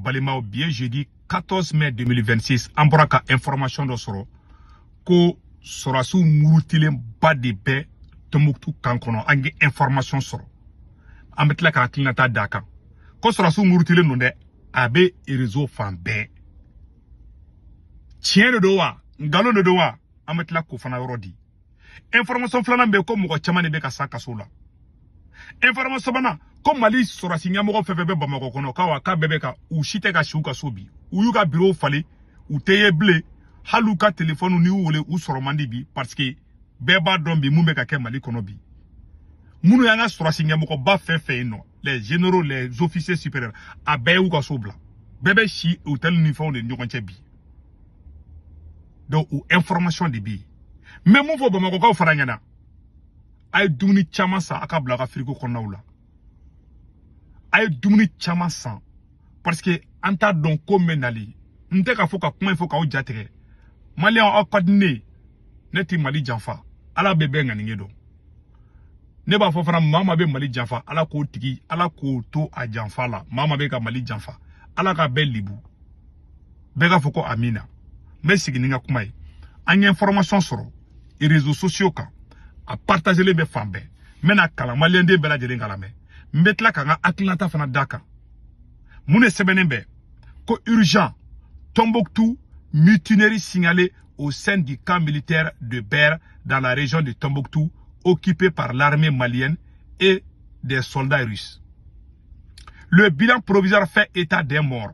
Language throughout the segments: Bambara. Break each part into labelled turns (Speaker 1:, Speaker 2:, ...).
Speaker 1: balimaw bi ye jeudi 14 mai 2026 an bɔra ka information dɔ sɔrɔ ko sɔrɔsiw murutilenba de bɛ tɔnbukutu kan kɔnɔ an ye information sɔrɔ an bɛ tila ka hakilinata d'a kan ko sɔrɔsiw murutilen don dɛ a bɛ rezo fan bɛɛ tiɲɛ de don wa nkalon de don wa an bɛ tila k'o fana yɔrɔ di information filanan bɛ ko mɔgɔ caman de bɛ ka sa kaso la information sabanan ko mali sɔrɔsi ɲɛmɔgɔ fɛn fɛn bɛ bamakɔ kɔnɔ quoi k'a bɛɛ bɛ ka u si tɛ ka si u ka so bi u y'u ka birow falen u tɛ ye bilen hali u ka telefɔniw n'i y'u wele u sɔrɔ man di bi parce que bɛɛ b'a dɔn bi mun bɛ ka kɛ mali kɔnɔ bi minnu y'an ka sɔrɔsi ɲɛmɔgɔba fɛn fɛn ye nɔ les généraux les officiers supérieurs a bɛɛ y'u ka so bila bɛɛ bɛ si hôtel ni fɛnw de ɲɔgɔn cɛ bi donc o information de bɛ yen n bɛ mun fɔ bamakɔkaw fana ɲɛna a ye dumuni caman san a ka bila a ka firiko kɔnɔnaw la a ye dumuni caman san parce que an t'a dɔn ko min bɛ nali n tɛ k'a fɔ ka kuma in fɔ k'aw ja tigɛ maliyɛn aw ka di ne ye ne tɛ mali janfa ala bɛ bɛɛ ŋaniye dɔn ne b'a fɔ fana maa maa bɛ mali janfa ala k'o tigi ala k'o to a janfa la maa maa bɛ ka mali janfa ala k'a bɛɛ libu bɛɛ k'a fɔ ko amiina n bɛ sigi ni n ka kuma ye an ye information sɔrɔ réseaux sociaux kan a partagelen bɛ fan bɛɛ n bɛn'a kalan maliyɛnden bɛɛ lajɛlen k'a lamɛn n bɛ tila ka n ka hakilinata fana d'a kan mun de sɛbɛnnen bɛ ko urgent Tombouctou mutinerie signalée au sein du camp militaire de Ber dans la région de Tombouctou occupé par l'armée malienne et des soldats russes. Le bilan provisoire fait état des morts.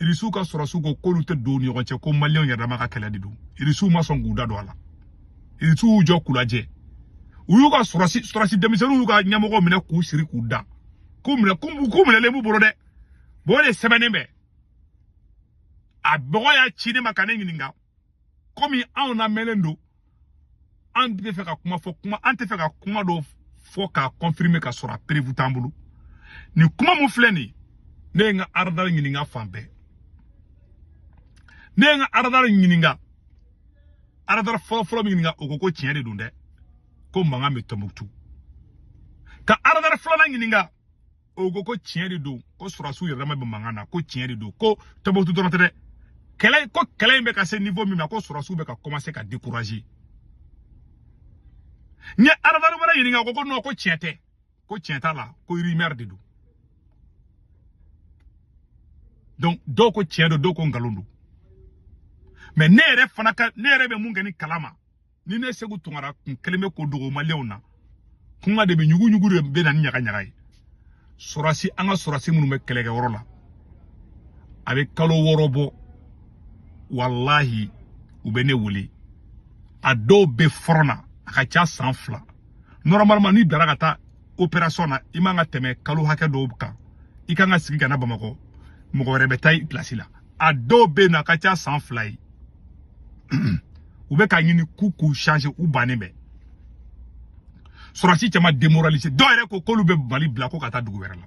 Speaker 1: irisiw ka sɔrɔsiw ko k'olu tɛ don ni ɲɔgɔn cɛ ko maliyɛnw yɛrɛdama ka kɛlɛ de don irisiw ma sɔn k'u da don a la irisiw y'u jɔ k'u lajɛ u y'u ka sɔrɔsi denmisɛnninw y'u ka ɲɛmɔgɔw minɛ k'u siri k'u da k'u minɛlen b'u bolo dɛ bon o de sɛbɛnnen bɛ a mɔgɔ y'a ci ne ma ka ne ɲininka komi anw lamɛnlen don an tɛ fɛ ka kuma fɔ an tɛ fɛ ka kuma dɔ fɔ k'a confirmer ka sɔrɔ a preuve t'an bolo nin kuma min filɛ nin ne ye n ka aradari ɲininka fan bɛɛ ne ye n ka aradari ɲininka aradari fɔlɔfɔlɔ min ɲininka o ko ko tiɲɛ de don dɛ ko mankan bɛ tɔnbukutu ka aradari filanan ɲininka o ko ko tiɲɛ de don ko sɔrɔsiw yɛrɛdama bɛ mankan na ko tiɲɛ de don ko tɔnbukutu dɔrɔn tɛ dɛ ko kɛlɛ in bɛ ka se niveau min ma ko sɔrɔsiw bɛ ka commencer ka décourager n ye aradari wɛrɛ ɲininka o ko ko non ko tiɲɛ tɛ ko tiɲɛ t'a la ko rumeur de don donc dɔw ko tiɲɛ don dɔw ko nkalon don mais ne yɛrɛ bɛ mun kɛ ni kalama ni ne seku tunkara kun kelen bɛ ko dogo maliyɛnw na kuma de bɛ ɲuguɲugu de bɛ na ni ɲagaɲaga ye sɔrɔsi an ka sɔrɔsi minnu bɛ kɛlɛkɛyɔrɔ la a bɛ kalo wɔɔrɔ bɔ walahi u bɛ ne wele a dɔw bɛ fɔrɔn na a ka ca san fila normalement n'i bilara ka taa opération na i man ka tɛmɛ kalo hakɛ dɔw kan i kan ka segin ka na bamakɔ mɔgɔ wɛrɛ bɛ taa i pilasi la a dɔw bɛ yen nɔ a ka ca san fila ye u bɛ k'a ɲini k'u k'u changer u bannen bɛ sɔrɔsi caman démoraliser dɔw yɛrɛ ko k'olu bɛ mali bila ko ka taa dugu wɛrɛ la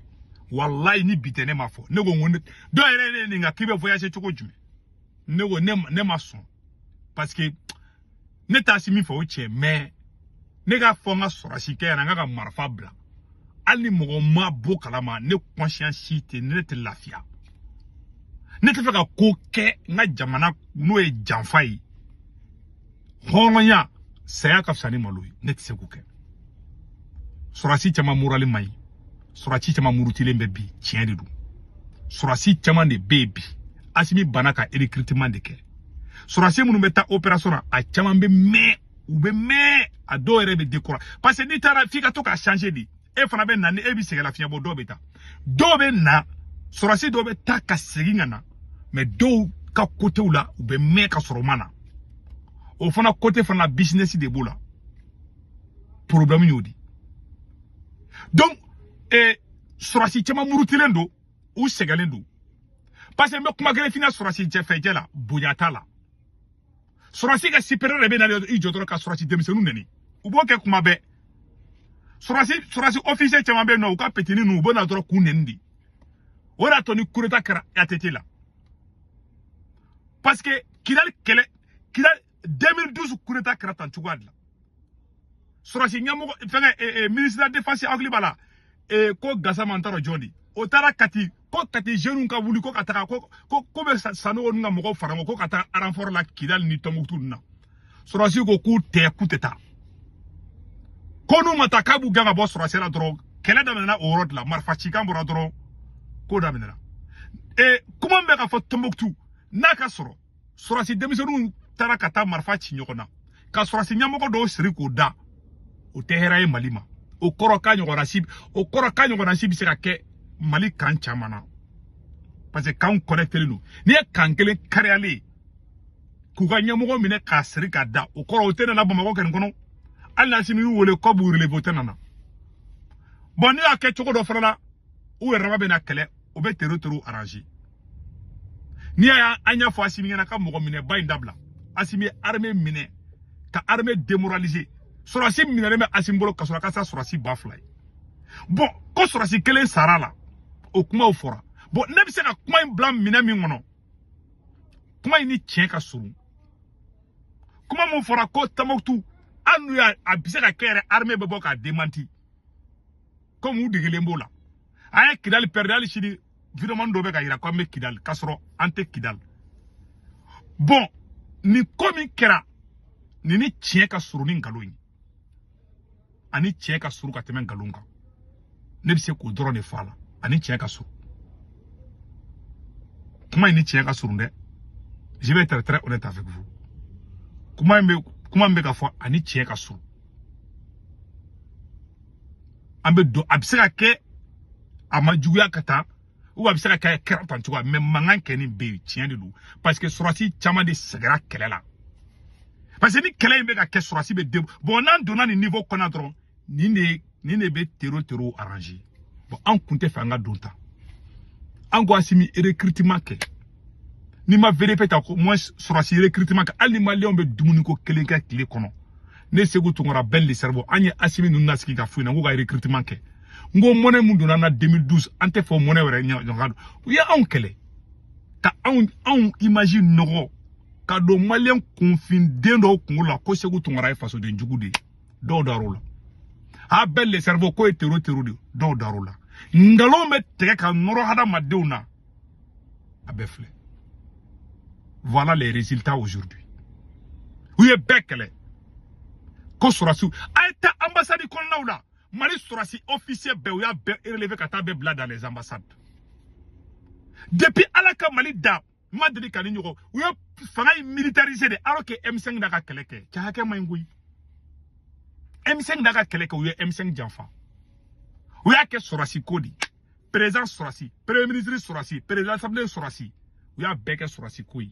Speaker 1: walayi ni bi tɛ ne m'a fɔ ne ko n ko dɔw yɛrɛ ye ne ɲininka k'i bɛ voyager cogo jumɛn ne ko ne ma sɔn parce que ne t'asimi fɛ o tiɲɛ mais ne k'a fɔ n ka sɔrɔsi kɛ ɲɛna n k'a ka marifa bila hali ni mɔgɔ ma b'o kalama ne conscience tɛ ne tɛ lafiya ne tɛ fɛ ka ko kɛ n ka jamana n'o ye janfa ye hɔrɔnya saya ka fisa ni malo ye ne tɛ se k'o kɛ sɔrɔsi caman morali man ɲi sɔrɔsi caman murutilen bɛ bi tiɲɛ de don sɔrɔsi caman de bɛ yen bi asimi bana ka recrutement de kɛ sɔrɔsi minnu bɛ taa opération na a caman bɛ mɛn u bɛ mɛn a dɔw yɛrɛ bɛ décourager parce que n'i taara f'i ka to ka changer de e fana bɛ na ni e bɛ sɛgɛn lafiɲɛ bɔ dɔw bɛ taa dɔw bɛ na sɔrɔsi dɔw bɛ taa ka segin ka na mais dɔw ka kotew la u bɛ mɛn ka sɔrɔ u ma na o fana kote fana business de b'o la problème y'o di donc eh, sɔrɔsi caman murutilen don u sɛgɛnlen don parce que n bɛ kuma kelen f'i ɲɛna sɔrɔsi jɛfɛjɛ la bonya t'a la sɔrɔsi ka supérieur de bɛ na i jɔ dɔrɔn ka sɔrɔsi denmisɛnninw nɛni u b'o kɛ kuma bɛɛ sɔrɔsi ofisiye caman bɛ yen nɔ u ka petini ninnu u bɛ na dɔrɔn k'u nɛni de o de y'a to ni coup d'état kɛra atete la parce que kidali kɛlɛ kidali 2012 coup d'état kɛra tan cogoya de la sɔrɔsi ɲɛmɔgɔ fɛngɛ eh, eh, ministre de la défense hakili b'a la eh, ko gasama n t'a dɔn jɔn de o taara kati ko kati jeunes ka wuli ko ka taga ko ko ko bɛ sanogo ninnu ka mɔgɔw fara ɲɔgɔn ko ka taa renfort la kidali ni tɔnbukutu ninnu na sɔrɔsi ko k'u tɛ k'u tɛ taa ko n'u ma taa k'a b'u gɛn ka bɔ sɔrɔsi la dɔrɔn kɛlɛ daminɛna o yɔrɔ de la marifa cikan bɔra dɔrɔn ko daminɛna ee kuma min bɛ ka fɔ tɔnbukutu n'a ka sɔrɔ sɔrɔsi denmisɛnninw taara ka taa marifa ci ɲɔgɔn na ka sɔrɔsi ɲɛmɔgɔ dɔ siri k'o da o tɛ hɛrɛ ye mali ma o kɔrɔ k'a ɲɔgɔnna si bɛ se ka kɛ mali kan caman na parce que kanw connectélen don n'i ye kan kelen kariyalen ye k'u ka ɲɛmɔgɔ minɛ k'a siri ka da o kɔrɔ o tɛna na bamakɔ kɛnin kɔnɔ hali n'asimi y'u wele ko b'u relever o tɛna na bɔn n'i y'a kɛ cogo dɔ fana la u yɛrɛ dama bɛ na kɛlɛ o bɛ tero terow aranze n'i y'a ye an y'a fɔ asimi ɲɛna ka mɔgɔ minɛba in dabila asimi ye arme minɛ ka arme demoralize sɔrɔsi minɛlen bɛ asimi bolo kaso la ka sa sɔrɔsi ba fila ye bɔn ko sɔrɔsi kelen sara a la o kumaw fɔra bɔn ne bɛ se ka kuma in bila minɛn min kɔnɔ kuma in ni tiɲɛ ka surun kuma min fɔra ko tɔmbukutu hali n'u y'a a bɛ se ka kɛ yɛrɛ arme bɛ bɔ k'a demanti komi u degelen b'o la an ye kidali pɛridi hali sini videomani dɔ bɛ k'a yira ko an bɛ kidali k'a sɔrɔ an tɛ kidali bɔn nin ko min kɛra nin ni tiɲɛ ka surun ni nkalon ye a ni tiɲɛ ka surun ka tɛmɛ nkalon kan ne bɛ se k'o dɔrɔn de fɔ a la a ni tiɲɛ ka surun kuma in ni tiɲɛ ka surun dɛ je vais être très honnête avec vous kuma min bɛ ka fɔ a ni tiɲɛ ka surun an b'a dɔn a bɛ se ka kɛ a ma juguya ka taa ou a bɛ se ka kɛ a kɛra tan cogoya mɛ mankan kɛlen bɛ tiɲɛ de don parce que sɔrɔsi caman de sɛgɛra kɛlɛ la parce que ni kɛlɛ in bɛ ka kɛ sɔrɔsi bɛ den bɔn n'an donna nin niveau kɔnɔ dɔrɔn nin de bɛ tero terow arranger bɔn an kun t'a fɛ an ka don tan an ko asimi recrutement kɛ n'i ma VDP ta au moins sɔrɔsi recrutement kɛ hali ni maliyɛnw bɛ dumuni ko kelen kɛ tile kɔnɔ ne seku tunkara ben le cerveau an ye asimi ninnu nasigi ka f'u ɲɛna k'u ka recrutement kɛ n ko mɔnɛ min donna an na 2012 an t'a fɛ o mɔnɛ wɛrɛ ɲɔgɔn ka don u ye anw kɛlɛ ka anw image nɔgɔ ka don maliyɛn kunfinden dɔw kungolo la ko seku tunkara ye fasoden jugu de ye dɔw dar'o la a ben le cerveau k'o ye tero tero de dɔw dar'o la nkalon bɛ tigɛ ka nɔrɔ hadamadenw na a bɛɛ filɛ voilà les résultats aujourd'hui u ye bɛɛ kɛlɛ ko sɔrɔsiw a ye taa anbasadi kɔnɔnaw la mali sɔrɔsi officier bɛɛ u y'a bɛɛ relevé ka taa bɛɛ bila dans les ambassades depuis ala ka mali da n ma deli ka nin ɲɔgɔn u ye fanga in militariser de alors que m5 de ka kɛlɛ kɛ cɛ hakɛ man ɲi koyi m5 de ka kɛlɛ kɛ u ye m5 janfa u y'a kɛ sɔrɔsi ko de ye perezidan sɔrɔsi premier ministre sɔrɔsi perezidan asanbile sɔrɔsi u y'a bɛɛ kɛ sɔrɔsi ko ye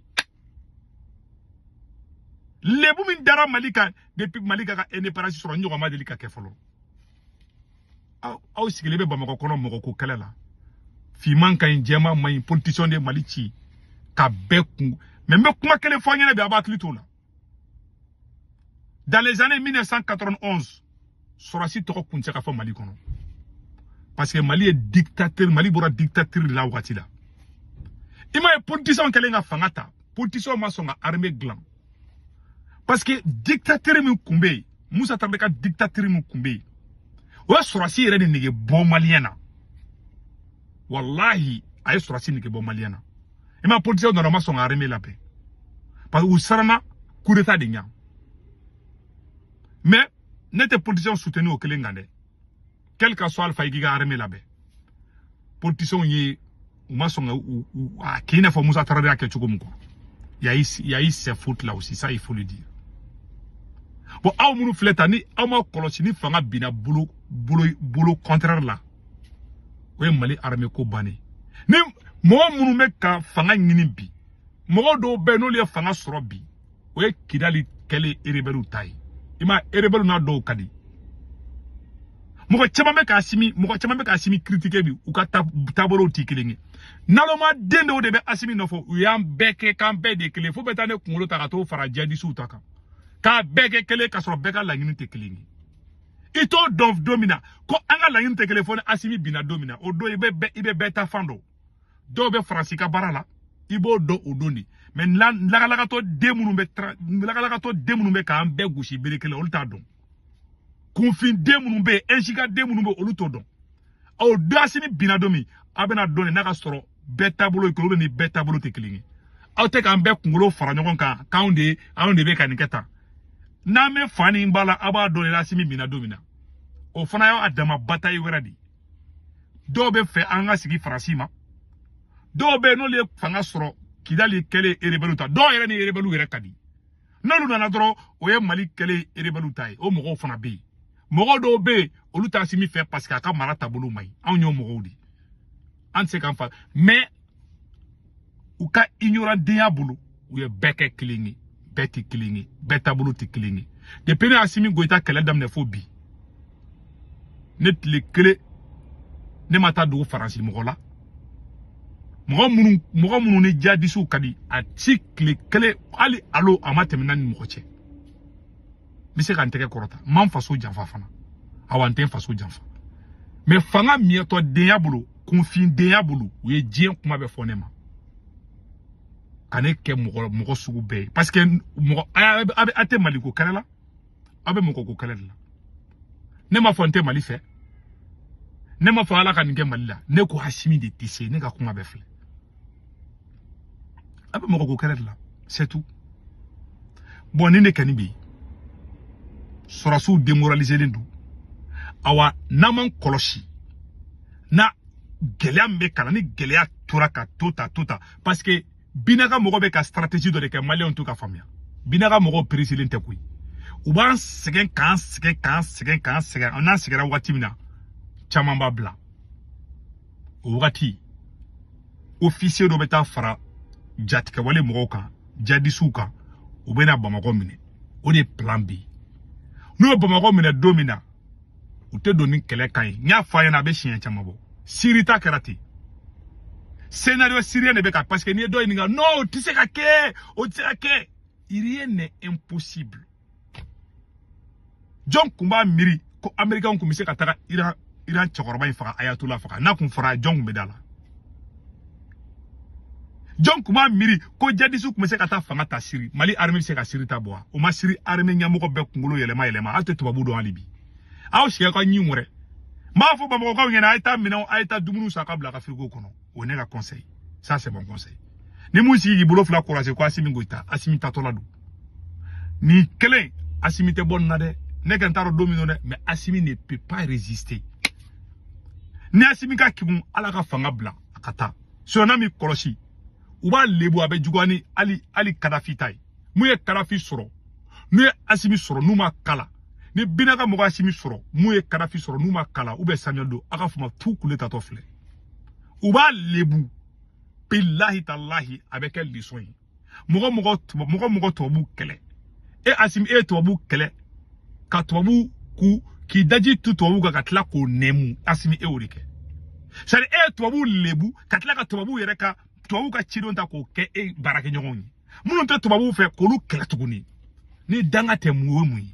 Speaker 1: lebu min dara mali kan depuis mali ka ka indépendance sɔrɔ nin ɲɔgɔn ma deli ka kɛ fɔlɔ aw sigilen bɛ bamakɔ kɔnɔ mɔgɔ ko kɛlɛ la finman ka ɲi jɛman man ɲi politisiyɔn de ye mali ci ka bɛɛ kun mɛ n bɛ kuma kelen fɔ aw ɲɛna bi aw b'a hakili t'o la dans les années 1991 sɔrɔdasi tɔgɔ kun tɛ ka fɔ mali kɔnɔ parce que mali ye dictateur mali bɔra dictateur la wagati la i m'a ye politisiyɛnw kɛlen ka fanga ta politisiyɛnw ma sɔn ka armée dilan parce que dictateur min kun bɛ yen musa tarawele ka dictateur min kun bɛ yen o ye sɔrɔdasi yɛrɛ de nege bɔ maliyɛn na walahi a ye sɔrɔdasi nege bɔ maliyɛn na i ma politisiyɛnw nana u ma sɔn ka armée labɛn parce que u siranna coup d'état de ɲa mais ne tɛ politisiyɛnw soutenir o kelen kan dɛ quel que soit il faut i k'i ka armée labɛn politisiyɛnw ye u ma sɔn ka a k'i n'a fɔ musa tarawele y'a kɛ cogo min quoi il y a eu il y a eu ces fautes là aussi ça il faut le dire bon aw minnu filɛ tan ni aw ma kɔlɔsi ni fanga binna bolo bolo bolo contraire la o ye mali arame ko bannen ni mɔgɔ minnu bɛ ka fanga ɲini bi mɔgɔ dɔw bɛ yen n'olu ye fanga sɔrɔ bi o ye kidali kɛlen erebɛliw ta ye i ma erebɛliw n'a dɔw ka di mɔgɔ caman bɛ ka asimi mɔgɔ caman bɛ ka asimi kiritike bi u ka taabolow tɛ kelen ye naloma den dɔw de bɛ asimi nɔfɛ u y'an bɛɛ kɛ k'an bɛɛ de kelen fo bɛ taa ne kunkolo ta ka t'o fara jadisiw ta kan k'a bɛɛ kɛ kelen ka sɔrɔ bɛɛ ka laɲini tɛ kelen ye i t'o dɔn don min na ko an ka laɲini tɛ kelen fo ni asimi binna don min na o don i bɛ i bɛ bɛɛ ta fan dɔn dɔw bɛ faransi ka baara la i b'o dɔn o don de mais lagalagatɔ den minnu bɛ lagalagatɔ den minnu bɛ k'an bɛɛ gosi bere kelen olu t'a dɔn kunfin den minnu bɛ yen ɛnsika den minnu bɛ olu t'o dɔn aw de asimi binna don min aw bɛna dɔn nin n'a ka sɔrɔ bɛɛ taabolo ye kelen ni bɛɛ taabolo tɛ kelen ye aw tɛ k'an bɛɛ kunkolo fara ɲɔgɔn kan k'anw de anw de bɛ ka nin kɛ tan n'an bɛ fa ni ba la aw b'a dɔn n'asimi binna don min na o fana y'a dama batayi wɛrɛ de ye dɔw b'a fɛ an ka segin faransi ma dɔw bɛ yen n'olu ye fanga sɔrɔ kidali kɛlen erebɛliw ta dɔw yɛrɛ ni erebɛliw yɛrɛ ka di n'olu nana dɔrɔn o ye mali kɛlen erebɛliw ta ye o mɔgɔw fana bɛ yen mɔgɔ dɔw bɛ yen olu t'asimi fɛ parce que a ka mara taabolo man ɲi anw y'o mɔgɔw de ye an tɛ se k'an fa mais u ka ignorandenya bolo u ye bɛɛ kɛ kelen ye bɛɛ tɛ kelen ye bɛɛ taabolo tɛ kelen ye depuis ne asimi goyita kɛlɛ daminɛ fo bi ne tile kelen ne ma taa tugu faransi mɔgɔ la mɔgɔ minnu mɔgɔ minnu ni jadisiw ka di a si tile kelen hali alo a ma tɛmɛ ne ni mɔgɔ cɛ n bɛ se ka n tɛgɛ kɔrɔta n ma n faso janfa fana awa n tɛ n faso janfa mais fanga miyɛtɔ denya bolo kunfin denya bolo u ye diɲɛ kuma bɛɛ fɔ ne ma ka ne kɛ mɔgɔ mɔgɔ sugu bɛɛ ye parce que mɔgɔ a tɛ maliko kɛlɛ la aw bɛ mɔgɔ ko kɛlɛ de la ne m'a fɔ n tɛ mali fɛ ne m'a fɔ ala ka nin kɛ mali la ne ko asimi de tɛ se ne ka kuma bɛɛ filɛ a bɛ mɔgɔ ko kɛlɛ de la c'est tout bɔn nin de kɔni bɛ yen sɔrɔsiw demoraliselen don awa n'an m'an kɔlɔsi na gɛlɛya min bɛ kalan ni gɛlɛya tora ka to ta to ta parce que bina ka mɔgɔw bɛ ka stratégie dɔ de kɛ maliyɛnw t'u ka faamuya bina ka mɔgɔw pereselen tɛ koyi u b'an sɛgɛn k'an sɛgɛn k'an sɛgɛn k'an sɛgɛn n'an sɛgɛnra wagati min na caman b'a bila o wagati ofisiye dɔ bɛ taa fara jatigɛwale mɔgɔw kan jadisiw kan u bɛna bamakɔ minɛ o de plan bɛ yen n'u ye bamakɔ minɛ don min na u tɛ don ni kɛlɛ kan ye n y'a fɔ aw ɲɛna a bɛ siɲɛ caman bɔ siri ta kɛra ten scénario syrien de bɛ ka parce que n'i ye dɔ ɲininka non o tɛ se ka kɛ o tɛ se ka kɛ rien n'est impossible jɔn kun b'a miiri ko américainw kun bɛ se ka taga iran cɛkɔrɔba in faga ayatollah faga n'a kun fɔra jɔn kun bɛ da a la jɔn kun b'a miiri ko jadisiw kun bɛ se ka taa fanga ta siri mali armée bɛ se ka siri ta bɔ wa o ma siri armée ɲɛmɔgɔ bɛɛ kunkolo yɛlɛma yɛlɛma aw tɛ tubabu dɔn hali bi aw siga ka ɲin wɛrɛ n b'a fɔ bamakɔkaw ɲɛna a ye taa minɛnw a ye taa dumuniw san k'a bila aw ka firigo kɔnɔ o ye ne ka conseil ça c'est mon conseil ni mun sigi k'i bolo fila kɔrɔse ko asimi goyita asimi taatɔ de don nin kelen asimi tɛ bɔ nin na dɛ ne kɔni t'a dɔn don min don dɛ mais asimi ne peut pas résister ni asimi ka kegun ale ka fanga bila a ka taa sinon n'a m'i kɔlɔsi u b'a lebu a bɛ juguya ni hali hali kadafi ta ye mun ye kadafi sɔrɔ n'u ye asimi sɔrɔ n'u m'o k'a la ni bina ka mɔgɔw asimi sɔrɔ mun ye kadafi sɔrɔ n'u m'o k'a la u bɛ samuel doe a ka fama tu kule tatɔ filɛ u b'a lebu bilahi talahi a bɛ kɛ leçon ye mɔgɔ mɔgɔ tubabu kɛlɛ e asimi e ye tubabu kɛlɛ ka tubabu ku k'i daji tu tubabu kan ka tila k'o nɛmu asimi e y'o de kɛ sari e ye tubabu lebu ka tila ka tubabu yɛrɛ ka tubabu ka ciden ta k'o kɛ e baarakɛɲɔgɔn ye minnu tɛ tubabuw fɛ k'olu kɛlɛ tuguni ni danga tɛ mun ye mun ye